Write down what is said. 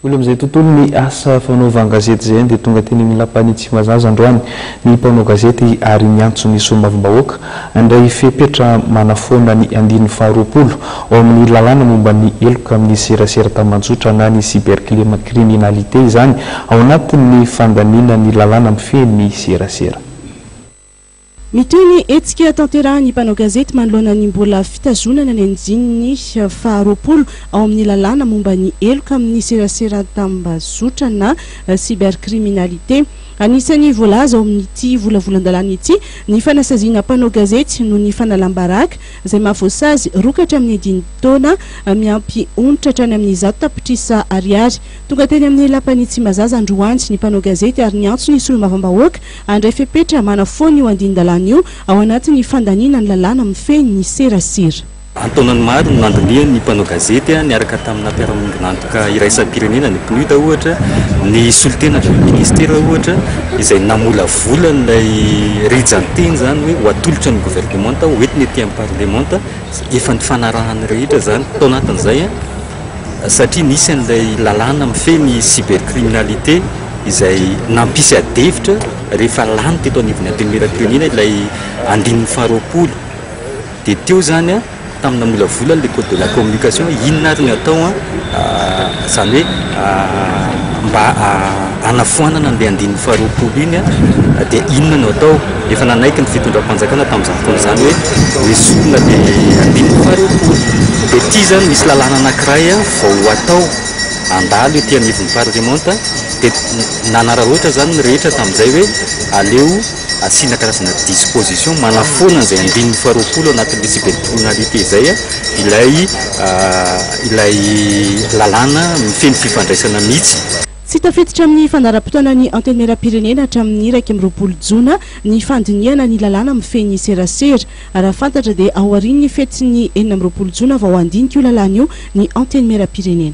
Olona amin'izay tontolon'ny asa fanaovan-gazety izay dia tonga teny amin'ny Lapan'i Tsimbazaza androany ny mpanao gazety ary niantso ny solombavambahoaka handray fepetra manafoana ny andininy faharoapolo ao amin'ny lalàna momba ny heloka amin'ny serasera tambajotra na ny cybercriminalité izany ao anatin'ny fandaniana ny lalàna mifehy ny serasera. Mitohy ny hetsika tanterahin'ny mpanao gazety manoloana ny mbola fitazonana ny andininy faha roapolo ao amin'ny lalàna momba ny heloka amin'ny serasera an-tambazotra na cybercriminalité. Anisan'ny voalaza ao amin'ity volavolan-dalàna ity ny fanasaziana mpanao gazety noho ny fanalam-baraka izay mahavoasazy rokatra amin'ny dini-taona miampy onitra hatrany amin'ny zato tapitrisa ariary. Tonga teny amin'ny lapan'i Tsimbazaza androany ny mpanao gazety ary niantso ny solombavambahoaka Handray fepetra manafoana io andinin-dalàna io ao anatin'ny fandaniana ny lalàna mifehy ny serasera. An-taonany maro no nandinihan'ny mpanao gazety niaraka tamina mpiara-miombon'antoka iraisam-pirenena, ny PNUD ohatra, ny solontenan'ilay minisitera ohatra, izay namolavola an'ilay rijan-teny izany hoe ho atolotra ny governemanta, hoentina ety amin'ny parlemanta, efa nifanarahan'ny rehetra izany tao anatin'izay. satria nisy an'ilay lalàna mifehy ny cybercriminalité izay nampisy adihevitra rehefa lany teto anivon'ny Antenimierampirenena ilay andininy faharoapolo dia teo izany tamina molavolany ilay code de la communication inona ary no atao izany hoe mba hanafoanana an'ilay andininy faharoapolo iny dia inona no atao Efa nanaiky ny fitondram-panjakana tamin'izany fotoana izany hoe misy olona dia handimby faribola. Dia ity izany misy lalàna anankiray vao hatao handalo ety anivon'ny parlemanta dia nanararaotra izany ny rehetra tamin'izay hoe aleo asiana karazana disposition manafoana an'izay andininy faharoapolo anatin'ity tsy ben'ny tribunal ity izay ilay ilay lalàna feno fifandraisana mihitsy. Tsy tafiditra amin'ny fandaharam-potoanan'ny Antenimierampirenena hatramin'ny iraika amby roapolo jona ny fandinihana ny lalàna mifehy ny serasera. Raha fantatra dia ao aorian'ny fetin'ny enina amby roapolo jona vao handinika io lalàna io ny Antenimierampirenena.